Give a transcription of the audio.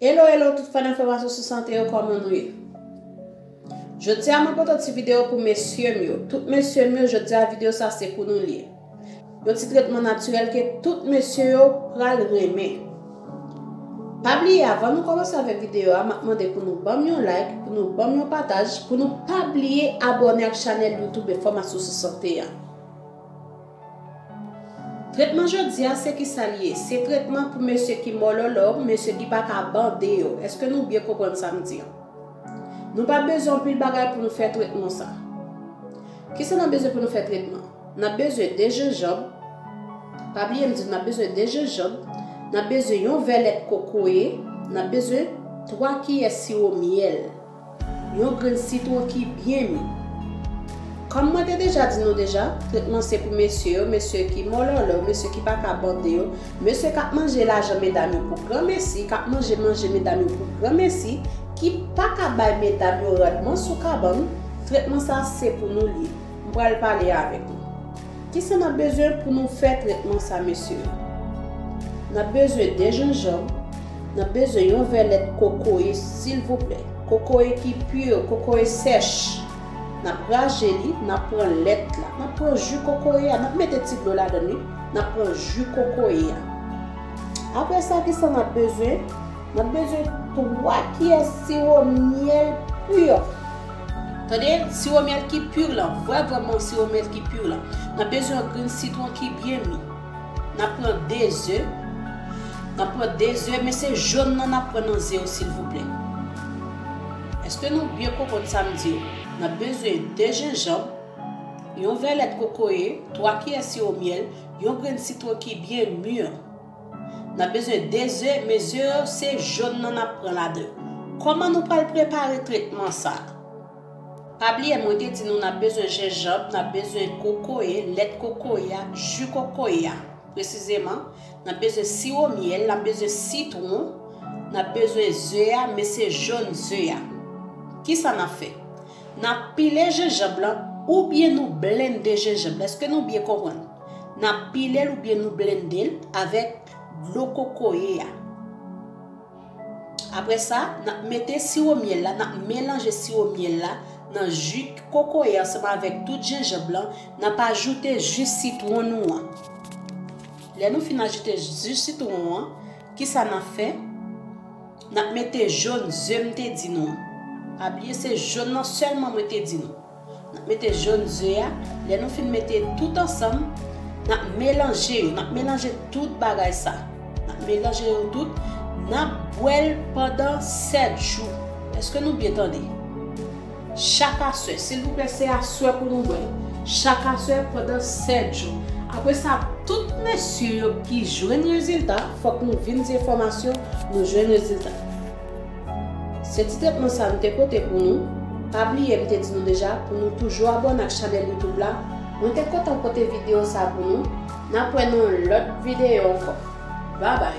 Hello hello tout fan enfòmasyon sou sante yo kòman nou ye Jodia mwen pote yon ti video pou mesyem yo tout mesyem yo jodia video sa se pou nou liye yon ti tretman natirèl ke tout mesye yo pral renmen Pa bliye avan nou kòmanse avèk video a map mande pou nou banm yon like pou nou banm yon pataj pou nou pa bliye abòne ak chanèl youtube enfòmasyon sou sante a. Tretman jodia se kisal ye se tretman pou mesye ki mòlòlò mesye ki paka bande yo eske nou byen konprann sam di an nou pa bezwen anpil bagay pou nou fè tretman sa kisa nap bezwen pou nou fè tretman nap bezwen 2 jenjanb pa bliye m di nou nap bezwen 2 jenjanb nap bezwen yon vè lèt kokoye nap bezwen 3 kiyè siwo myèl. Yon grenn sitwon ki byen mi. Kòm mwen te deja di nou deja, tretman se pou mesye yo, mesye ki mòlòlò yo, mesye ki pa ka bande yo, mesye k ap manje lajan medam yo pou granmesi, k ap manje manje medam yo pou granmesi, ki pa ka bay medam yo randman sou kabann, tretman sa se pou nou l ye. M pral pale avèk nou. Kisa nap bezwen pou nou fè tretman sa mesye? Nap bezwen 2 jenjanm, nap bezwen yon vè lèt kokoye silvouplè, kokoye ki pur, kokoye sèch, nap raje li, nap pran lèt la, nap pran ju kokoye a, nap mete ti dlo ladann wi, nap pran ju kokoye a. Aprè sa kisa nap bezwen? Mwen bezwen 3 kiyè siwo myèl pur. Tande, siwo myèl ki pur lan, vrè vrè bon siwo myèl ki pur lan. Nan bezwen yon grenn sitwon ki byen mi. Nan pran 2 ze, nan pran 2 ze, men se jòn nan nap pran nan ze yo silvouplè. Eske nou byen konprann sa m di yo? Nan bezwen 2 jenjanb, yon vè lèt kokoye, 3 kiyè siwo myèl, yon grenn sitwon ki byen mur. Nap bezwen 2 ze mesye yo se jòn nan nap pran ladann. Kòman nou pral prepare tretman sa? Pa bliye mwen te di nou nap bezwen jenjanb, nap bezwen kokoye, lèt kokoye a, ju kokoye a. Presizeman, nap bezwen siwo myèl, nap bezwen sitwon, nap bezwen ze a men se jòn ze a. Kisa nap fè? Nap pile jenjanb lan oubyen nou blende jenjanb la eske nou byen konprann nap pilel oubyen nou blendel avèk dlo kokoye a aprè sa nap mete siwo myèl la nap melanje siwo myèl la nan ji kokoye ansanm avèk tout jenjanb lan nap ajoute ji sitwon nou an lè nou fin ajoute ji sitwon an kisa nap fè Nap mete jaune ze m te di nou an pa bliye se jaune nan sèlman mwen te di nou nap mete jaune ze a lè nou fin mete tout ansanm nap melanje yo nap melanje tout bagay sa nap melanje yo tout nap bwèl pandan 7 jou eske nou byen tande. Chak aswè, silvouplè se aswè pou nou bwèl, chak aswè pandan 7 jou. Apre sa tout mesye yo ki jwenn rezilta, fòk nou vin di enfòmasyon nou jwenn rezilta. Se ti tretman sa nou te pote pou nou, pa bliye m te di nou deja pou nou toujou abòne ak chanèl youtube la, mwen te kontan pote video sa pou nou, nap wè nan yon lòt video ankò babay.